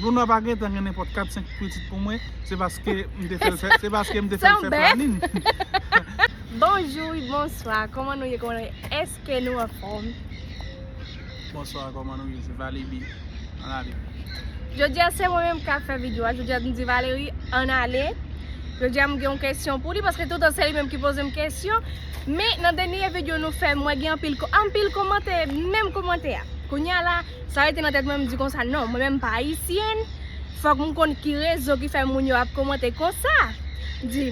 Luna pa gentan gen nenpòt 4 5 pitit pou mwen se paske m te fèl fè se paske m te fèl fè planin. Bonjou wi bonswa kòman nou ye kòman nou ye eske nou anfòm. Bonswa kòman nou ye se valebi an ale. Jodia se mwen menm kap fè video a jodia m di valery an ale jodia m gen yon kesyon pou li paske toutan se li menm ki pozem kesyon men nan dènye video nou fè mwen gen anpil anpil komantè menm komantè a kounya la Sa rete nan tèt mwen, m di konsa non, mwen menm m pa Ayisyèn, fòk m konn ki rezon ki fè moun yo ap komante konsa. M di,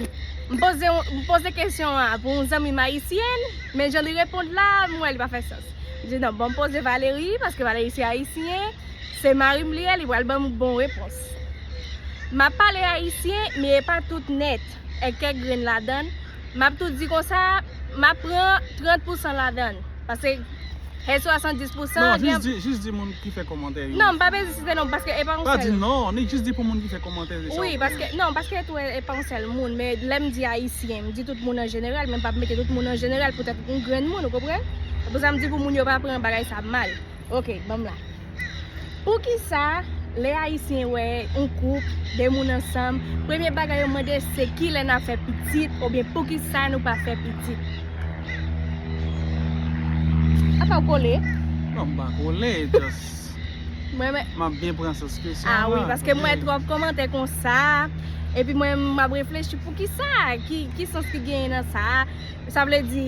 m poze yon, m poze kesyon an pou yon zanmi m Ayisyèn, men jan li reponn la, m wè li pa fè sans. M di non, banm poze Valery, paske Valery se Ayisyen, se mari m li ye, li pral banm bon repons. M ap pale Ayisyen, men e pa tout nèt. e kèk grenn ladann, m ap tou di konsa, m ap pran 30 pousan ladann, pase e 70 pousan an gen. Non, jis, jis di moun ki fè kòmantè yo. Non, m pa bezwen site non, paske e pa yon sèl. Pa di non, ni jis di pou moun ki fè kòmantè yo. Wi, paske, non, paske tou e pa yon sèl moun, men lè m di ayisyen, m di tout moun an jeneral, men m pa mete tout moun an jeneral poutèt yon grenn moun, ou konprann? Se pou sa m di pou moun yo pa pran bagay sa mal. Ok, ban m la. Poukisa lè ayisyen wè yon koup, 2 moun ansanm, premye bagay yo mande se kilè nap fè pitit oubyen poukisa nou pa fè pitit? Apa ou kole? Non m pa kole e just map byen pran sans kesyon an. A wi paske m wè twòp kòmantè konsa epi mwen map reflechi poukisa ki sans ki genyen nan sa a. Sa vle di,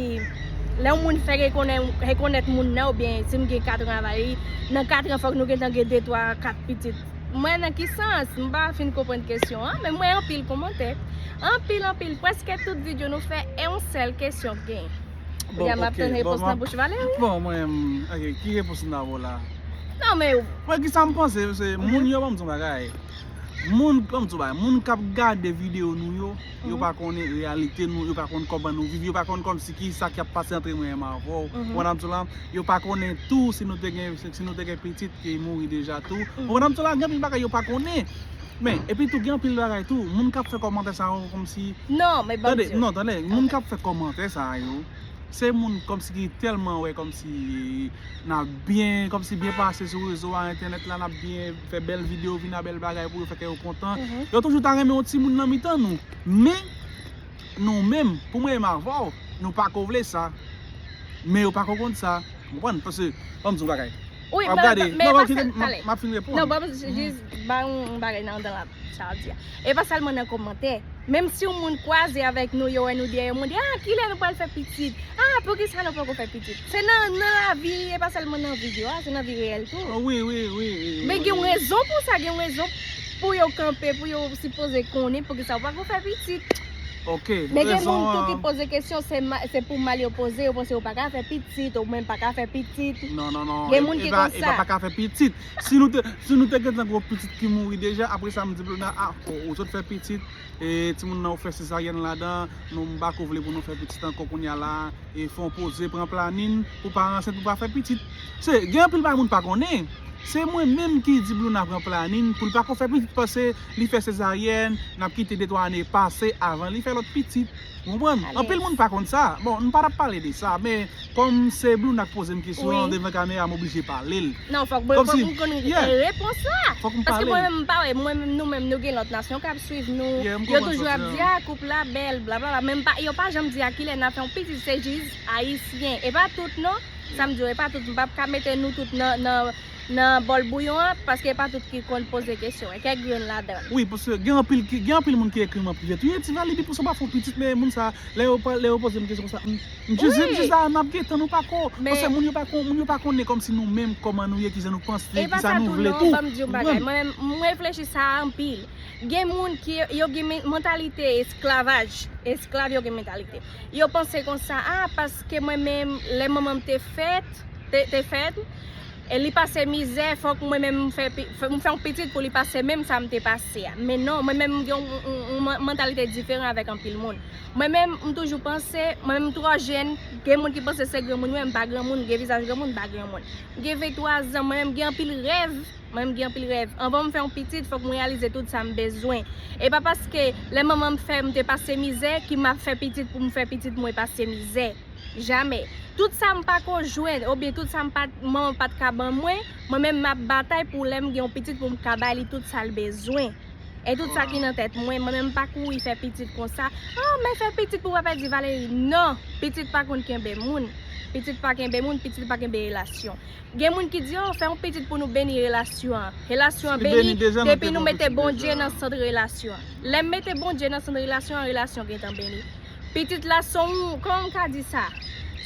lè yon moun fè rekonèt moun nan oubyen si m gen katran avè li, nan katran fòk nou gentan gen de twa, kat pitit. Mwen nan ki sans? M pa fin konprann kesyon an, men m wè anpil komantè. Anpil anpil, prèske tout video nou fè e yon sèl kesyon k gen. Kounye a m ap tann repons nan bouch Valery. Bon, mwen, ok, ki repons m ta ba w la? Non men. Mwen ki sa m panse, se moun yo, banm di yon bagay, moun, banm di yon bagay, moun k ap gade video nou yo, Yo pa konnen reyalite nou, yo pa konnen kòman nou viv, yo pa konnen kòmsi ki sa ki ap pase antre mwen menm avè w. Ou konprann sa m di w la? Yo pa konnen tou si nou te gen, si nou te gen pitit ki mouri deja tou. Ou konprann sa m di w la? Gen anpil bagay yo pa konnen. Men, epi tou gen anpil bagay tou, moun k ap fè kòmantè sa yo kòmsi, tande, non, tande, moun k ap fè kòmantè sa yo, se moun kòmsi ki tèlman wè kòmsi n ap byen, kòmsi byen pase sou rezo a, entènèt la, n ap byen. fè bèl video vin a bèl bagay pou yo fè kè yo kontan yo toujou ta renmen yon timoun nan mitan nou men nou menm pou mwen menm avè w nou pa ko vle sa men yo pa ko konn sa ou konprann pase banm di w yon bagay wap gade nan banm fini reponn nan banm jis bay yon bagay nan andan la sa wap di a. E pa sèlman nan kòmantè. Menm si yon moun kwaze avèk nou, yo wè nou dèyè moun, di, Ah, kilè nou pral fè pitit? Ah, poukisa nou poko fè pitit? Se nan nan lavi, e pa sèlman nan video a, se nan vi reyèl tou. O wi, wi, wi, wi, wi. Men gen yon rezon pou sa, gen yon rezon pou yo kanpe, pou yo sipoze konnen poukisa yo pako fè pitit. Ok, rezon an. Men gen moun tou ki poze kesyon, se pou mal yo poze, yo panse yo paka fè pitit, ou menm paka fè pitit. Non, non, non. Gen moun ki konsa. E pa paka fè pitit. Si nou te si nou te gentan gon pitit ki mouri deja apre sa m di Blonda ah ou sot fè pitit e timoun nan ou fè sezaryèn ladan nou m pako vle pou nou fè pitit ankò kounya la e fon poze pran planin pou pa ansent pou pa fè pitit se gen anpil bagay moun pa konnen se mwen menm ki di Blonda pran planin pou l pako fè pitit pase li fè sezaryèn nap kite de twa ane pase avan li fè lòt pitit. Ou konprann? Anpil moun pa konn sa. Bon, m pa tap pale de sa, men kòm se Blouna k poze m kesyon an devan kamera m oblije pale l. Non, fòk mwen fòk m konn repons la. Fòk m pale l. Paske mwen menm m pa wè, mwen menm nou menm nou gen lòt nasyon k ap swiv nou. Yeah, m konprann sa w di an. Yo toujou ap di a koup la bèl blablabla men m pa, yo pa janm di a kilè n a fè yon pitit se jis ayisyen. E pa tout non, sa m di yo e pa tout, m pap ka mete nou tout nan Nan bòl bouyon an, paske e pa tout ki konn poze kesyon, e kèk grenn ladan. Wi paske gen anpil ki gen anpil moun ki ekrim anpil lèt wi ti vali pipo sa pa fon pitit men moun sa lè yo pa lè yo pozem kesyon konsa m m jis dim jis la map gentan nou pako paske moun yo pa kon moun yo pa konnen kòmsi nou menm kòman nou ye kijan nou panse kisa nou vle tou m konprann mwen menm m reflechi sa anpil gen moun ki yo gen mantalite esklavaj esklav yo gen mantalite yo panse konsa a paske mwen menm lè manmanm te fèt te fèt e li pase mizè fòk mwen menm m fè yon pitit pou li pase menm sa m te pase a men non mwen menm m gen yon mantalite diferan avèk anpil moun mwen menm m toujou panse mwen menm m twò jèn gen moun ki panse se granmoun mwen m pa granmoun m gen vizaj granmoun m pa granmoun m gen 23 zan mwen menm m gen anpil rèv mwen menm m gen anpil rèv anvan m fè yon pitit fòk m reyalize tout sa m bezwen e pa paske lè manman m fè m te pase mizè ki m ap fè pitit pou m fè pitit mwen pase mizè. Jamè. Tout sa m pako jwenn oubyen tout sa manman m pat ka ban mwen, mwen menm m ap batay pou lè m gen yon pitit pou m ka ba li tout sa l bezwen. E tout sa ki nan tèt mwen. Mwen menm m pa kouri fè pitit konsa. A, men fè pitit pou papa di Valery. Non! Pitit pa konn kenbe moun. Pitit pa kenbe moun, pitit pa kenbe relasyon. Gen moun ki di, oh, fè yon pitit pou nou beni relasyon an. Relasyon an beni depi nou mete Bondye nan sant relasyon an. Lè m mete Bondye nan sant relasyon an, relasyon an gentan beni. pitit la son kòman m ka di sa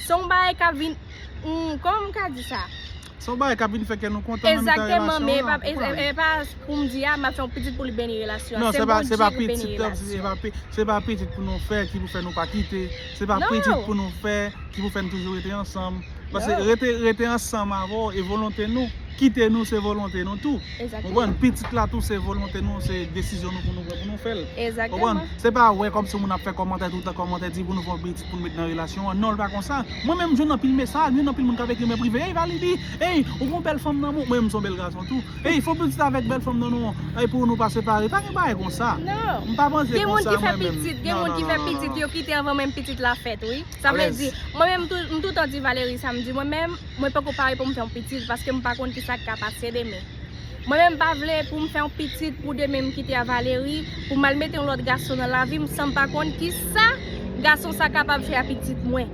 son yon bagay kap vin kòman m ka di sa son yon bagay kap vin fè kè nou kontan nan mitan relasyon an men e pa pou m di a map fè yon pitit pou li beni relasyon an se Bondye ki beni relasyon an non se pa pitit se pa pitit pou nou fè ki pou fè nou pa kite se pa pitit pou nou fè ki pou fè nou toujou rete ansanm. Pase rete rete ansanm avè w e volonte nou. Kite nou se volonte nou tou. Ou konprann? Pitit la tou se volonte nou, se desizyon nou pou nou pran pou nou fè l. Ou konprann? Se pa wè kòm si moun ap fè kòmantè tout tan, kòmantè di pou nou fè yon pitit pou nou met nan relasyon an. Non l pa konsa. Mwen menm m jwenn anpil mesaj, m jwenn anpil moun k ap ekri m nan prive, Ey Validi! Ey! Ou gon bèl fanm nan men w. Mwen menm m son bèl gason tou. Ey fè w pitit avèk bèl fanm nan non. Ey pou nou pa separe. Pa gen bagay konsa. M pa panse konsa mwen menm. Gen moun ki fè pitit, gen moun ki fè pitit yo kite anvan menm pitit la fèt wi. Sa vle di, mwen menm m toutan di Valery sa m di mwen menm, mwen poko pare pou m fè yon pitit paske m pa konn kisa k ka pase demen. Mwen menm m pa vle pou m fè yon pitit pou demen m kite a Valery, pou m al mete yon lòt gason nan lavi m san m pa konn kisa gason sa kapab fè a pitit mwen.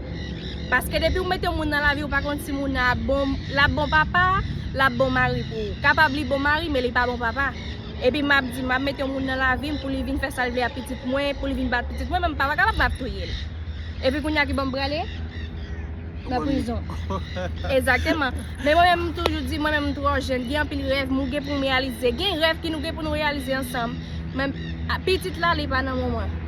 Paske depi ou mete yon moun nan lavi ou pa konn si moun nan ap bon, l ap bon papa, l ap bon mari pou ou. Kapab li bon mari men li pa bon papa. Epi map di map mete yon moun nan lavim pou li vin fè sal vle a pitit mwen pou li vin bat pitit mwen men papa kapab map touyel epi kounya ki bom prale nan prizon egzateman men mwen menm toujou di mwen menm mtro jèn gen anpil rèv mou gen poum reyalize gen rèv ki nou gen pou nou reyalize ansanm men pitit la li pa nan men mwen.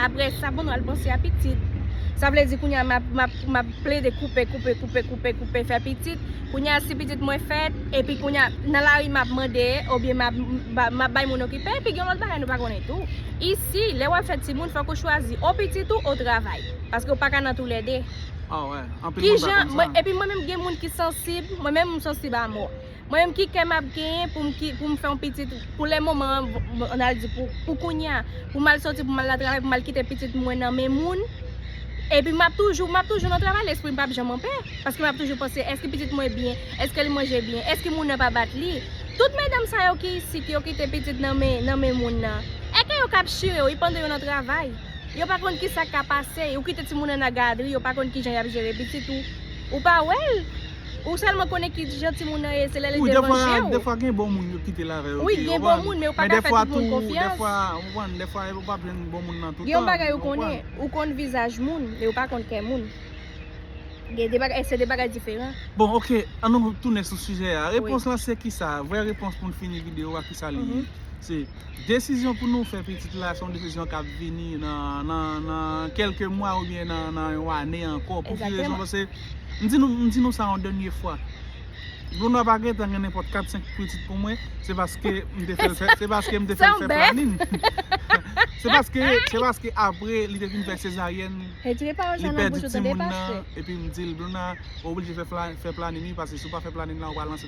Apre sa bon nou al panse a pitit. Sa vle di kounya map plede koupe, koupe, koupe, koupe, koupe fè pitit. Kounya si pitit mwen fèt, epi kounya nan lari map mande, oubyen map bay moun okipe, epi gen yon lòt bagay nou pa konnen tou. Isi, lè wap fè timoun, fòk ou chwazi ou pitit ou, ou travay. Paske ou pa ka nan tou lè 2. Kijan, epi mwen menm gen moun ki sansib, mwen menm m sansib a mò. Mwen menm ki kè map genyen pou m fè yon pitit pou lè moman an mwen al di pou kounya pou m al soti pou m al nan travay pou m al kite pitit mwen nan men moun epi map toujou map toujou nan travay lespri m pap janm anpè paske map toujou panse èske pitit mwen byen èske li manje byen èske moun nan pa bat li tout medam sa yo ki isit yo kite pitit nan men moun nan èke yo kap chire wi pandan yo nan travay yo pa konn kisa kap pase yo kite ti moun nan nan gadri yo pa konn kijan yap jere pitit ou ou pa wèl. Ou selman konnen ki jan timoun nan ye se lè li devan jew. Wi defwa defwa gen bon moun yo kitel avè yo tou. Wi gen bon moun men ou pa ka fè tout moun konfyans. Men defwa ou konprann defwa ou pap jwenn bon moun nan toutan. Gen yon bagay ou konnen ou konn vizaj moun men ou pa konn kè moun. Gen de bagay se de bagay diferan. Bon ok an nou tounen sou sijè a repons lan se kisa vrè repons poun fini video a kisa li ye se desizyon pou nou fè pitit la se yon desizyon kap vini nan nan kelke mwa oubyen nan yon ane ankò pou ki rezon pase. M di nou, m di nou sa yon dènye fwa. Glondwa pa gentan gen nenpòt kat senk pitit pou mwen, se paske m te fè l fè, se paske m te fè l fè planin. Se paske, se paske apre li te fin fè sezaryèn, li pèdi timoun nan, epi m di l, Glondwa, ou oblije fè planin wi, paske si w pa fè planin la, ou pa lanse.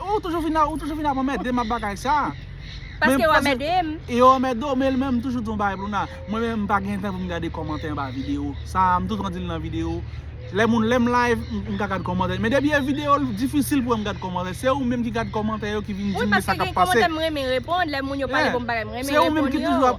Ou toujou vin ap ou toujou vin ap anmèdem ak bagay sa. Paske yo anmèdem. E yo anmède w men menm m toujou di w yon bagay Louna, mwen menm m pa gen tan pou m gade kòmantè anba video sa m toujou di l nan video lè moun lè m live m ka gad kòmantè men depi e video l difisil pou m gad kòmantè se ou menm ki gad kòmantè yo ki vin di m sa k ap pase. Wi paske gen kòmantè m renmen reponn lè moun yo pale bon bagay m renmen reponn yo.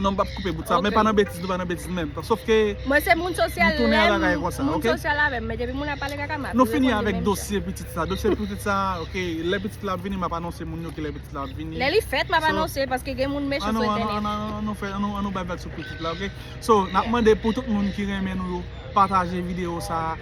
Non m pap koupe bout sa men pa nan betiz nou pa nan betiz menm sof ke Mwen se moun sosyal lèm moun sosyal avèm men depi moun ap pale kaka map reponn li menm jan. Nou fini avèk dosye pitit sa dosye pitit sa ok lè pitit la ap vini map anonse moun yo ki lè pitit la ap vini Lè li fèt map anonse paske gen moun mechan sou entènèt An nou an nou fè an nou an nou bay vag sou pitit la ok so nap mande pou tout moun ki renmen nou yo pataje video sa.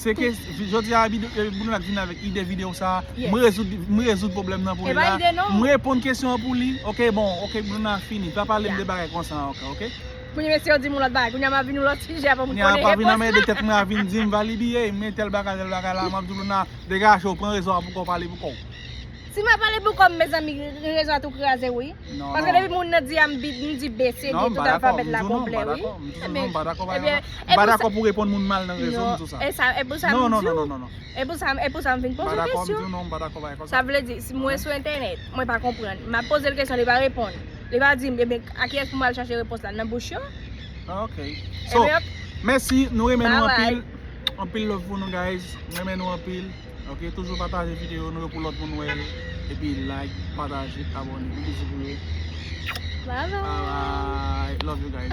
Se ke jodi a Boulnat vin avèk ide videyo sa a, m rezoud m rezoud pwoblèm nan pou li la, m reponn kesyon an pou li, ok bon ok Boulnat fini pa pale m de bagay konsa ankò ok. Kounye mesye yo di m yon lòt bagay, kounye a m ap vin yon lòt sijè avan m konnen repons la. Kounye a m pa vin anmède tèt mwen a vin di m Valiby ey men tèl bagay tèl bagay la, m ap di Boulnat degaje w pran rezo a pou kò w pale pou kò w. Si mwen pale pou kòm mezanmi gen rezon a tou kraze wi. Paske depi moun nan di a m di B, C, D tout alfabèt la konplè wi. M pa dakò avèw. M pa dakò pou reponn moun mal nan rezo m di w sa. Non non non non. E pou sa m vin poze w kesyon. M pa dakò avèw. Sa vle di si mwen sou entènèt mwen pa konprann. M ap poze l kesyon li pa reponn. Li pa di m e ben a kiyès pou m al chache repons la nan bouch yo. Ok. So mèsi nou renmen nou anpil. Anpil love pou nou guys. M renmen nou anpil. Ok toujou pataje video nou yo pou lòt moun wèl epi like pataje abone yon bizou pou yo bye bye love you guys.